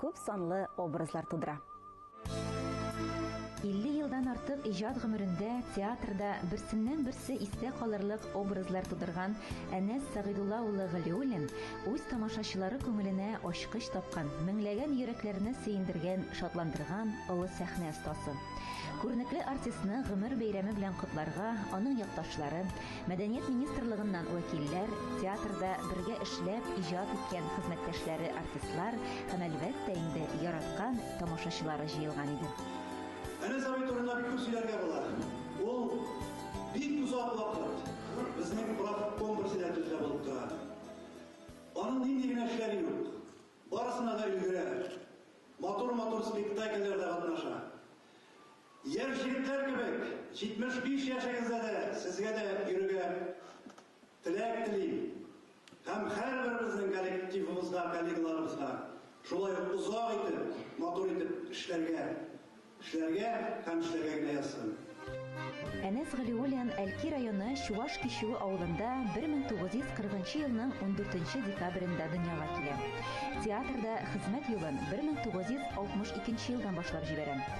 күп санлы образлар тудыра. 50 елдан артык иҗат гомерендә театрда берсеннән-берсе истә калырлык образлар тудырган Әнәс Сәгыйдулла улы Галиуллин үз тамашачылары күңеленә ачкыч тапкан, меңләгән йөрәкләрне сөендергән, шатландырган олы сәхнә остасы. Күренекле артистны гомер бәйрәме белән котларга аның якташлары, Мәдәният министрлыгыннан вәкилләр, театрда бергә эшләп, иҗат иткән хезмәттәшләре артистлар һәм, әлбәттә инде, яраткан тамашачылары җыелган иде. Әнәс абый турында бик күп сөйләргә була. Ул бик озак вакыт безнең профком председателе булып тора. Аның нинди генә эшләре юк. Барысына да өлгерә. Матур-матур спектакльләрдә катнаша. Яшь егетләр кебек 75 яшегездә дә сезгә дә йөрергә теләк телим һәм һәрберебезнең коллективыбызга, коллегаларыбызга шулай ук озак итеп, матур итеп эшләргә, эшләргә һәм эшләргә генә язсын. Әнәс Галиуллин Әлки районы Чуваш Кичү авылында 1940 нчы елның 14 нче декабрендә дөньяга килә. Театрда хезмәт юлын 1962 елдан башлап җибәрә.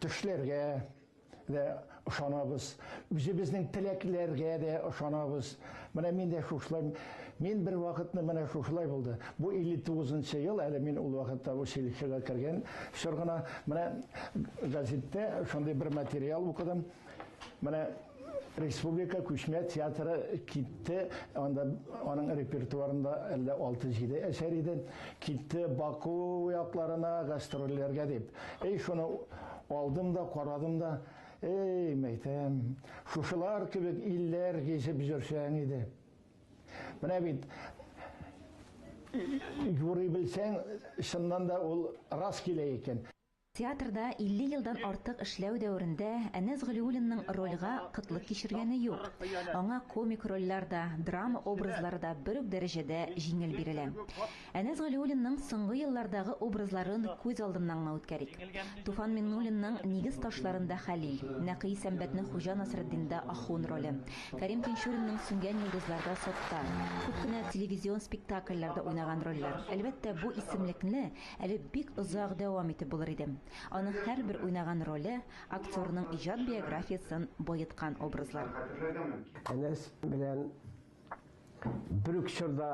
Төшләргә дә ышанабыз, үзебезнең теләкләргә дә ышанабыз. Менә мин дә шушылай, мин бер вакытны менә шушылай булды. Бу 59 нчы ел, әле мин ул вакытта училищега кергән чор гына. Менә газеттә шундый бер материал укыдым. Менә республика күчмә театры китте, анда аның репертуарында әллә 6-7 әсәр иде. Китте Баку якларына гастрольләргә дип. Эй, шуны алдым да, карадым да, эй, мәйтәм, шушылар кебек илләр гизеп йөрсәң иде. Менә бит юрый белсәң, чыннан да ул рас килә икән. Театрда 50 елдан артык эшләү дәверендә Әнәс Галиуллинның рольгә кытлык кичергәне юк. Аңа комик рольләр дә, драма образлары да бер үк дәрәҗәдә җиңел бирелә. Әнәс Галиуллинның соңгы еллардагы образларын күз алдыннан гына үткәрик. Туфан Миңнуллинның Нигез ташларында Хәлил, Нәкый Сәмбәтнең Хуҗа Насретдинда Ахун роле, Кәрим Тинчуринның Сүнгән йолдызларда Саттар, күп кенә телевизион спектакльләрдә уйнаган рольләр. Әлбәттә, бу исемлекне Әле бик озак дәвам итеп булыр иде. Аның һәрбер уйнаган роле, актерның иҗат биографиясен баеткан образлар. Әнәс белән бер үк чорда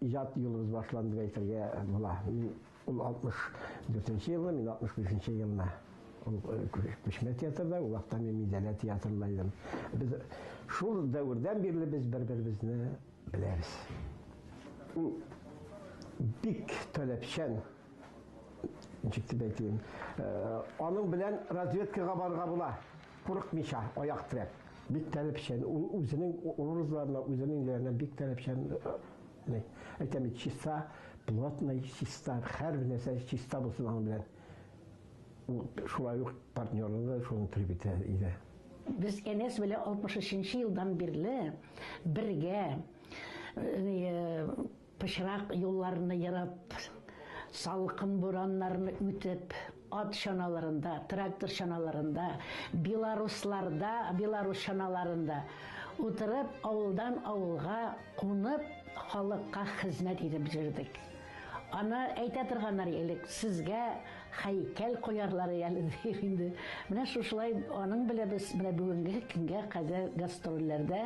иҗат юлыбыз башланды дип әйтергә була. Ул 64 елны, мин 65 елны. Ул Күчмә театрда, ул вакытта мин Мидәлә театрында идем. Без шул дәвердән бирле без бер-беребезне Беләбез. Ул бик таләпчән, ничек дип әйтим, э, аның белән разведкага барырга була, курыкмыйча, аяк терәп. Бик таләпчән, ул үзенең образларына, үзенең ниләренә бик таләпчән. Э, әйтәм бит, чиста, плотный, чиста, һәр нәрсә чиста булсын аның белән. Ул шулай ук партнеры да шуны теләп итә иде. Без Әнәс белән 63 елдан бирле бергә пычрак юлларны ерып, салкын бураннарны үтеп, ат чаналарында, трактор чаналарында, белорусларда, белорус чаналарында утырып, авылдан авылга кунып, халыкка хезмәт итеп йөрдек. Аны әйтә торганнар элек, сезгә һәйкәл куярлар әле диеп инде. Менә шушылай аның белән без менә бүгенге көнгә кадәр гастрольләрдә,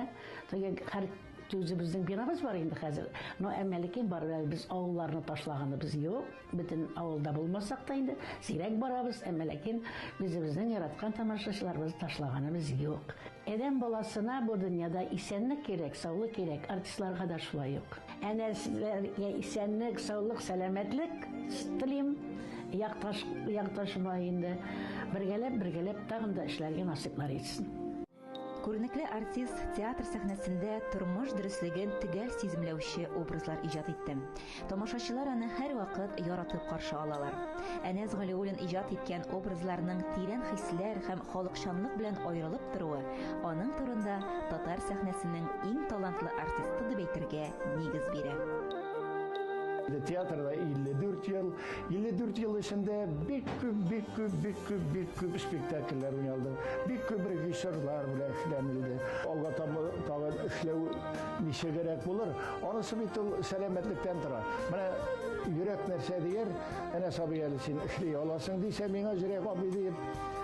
теге һәр үзебезнең бинабыз бар инде хәзер, но әмма ләкин барыбер әле без авылларны ташлаганыбыз юк, бөтен авылда булмасак та инде, сирәк барабыз, әмма ләкин үзебезнең яраткан тамашачыларыбызны ташлаганыбыз юк. Адәм баласына бу дөньяда исәнлек кирәк, саулык кирәк, артистларга да шулай ук. Әнә сезләргә исәнлек, саулык, сәламәтлек телим. Якташ, якташыма инде бергәләп, бергәләп тагын да эшләргә насыйплар итсен. Күренекле артист театр сәхнәсендә тормыш дөреслеген төгәл сиземләүче образлар иҗат итте. Тамашачылар аны һәрвакыт яратып каршы алалар. Әнәс Галиуллин иҗат иткән образларның тирән хисләр һәм халыкчанлык белән аерылып торуы Аның турында татар сәхнәсенең иң талантлы артисты дип әйтергә нигез бирә. Театрда 54 ел. 54 ел эчендә бик күп, бик күп, бик күп, бик күп спектакльләр уйналды. Бик күп режиссерлар белән эшләнелде. Алга таба тагын эшләү ничегрәк булыр? Анысы бит ул сәламәтлектән тора. Менә йөрәк нәрсә дияр? Әнә сабый әле син эшли аласың дисә, миңа җөрәк абый диеп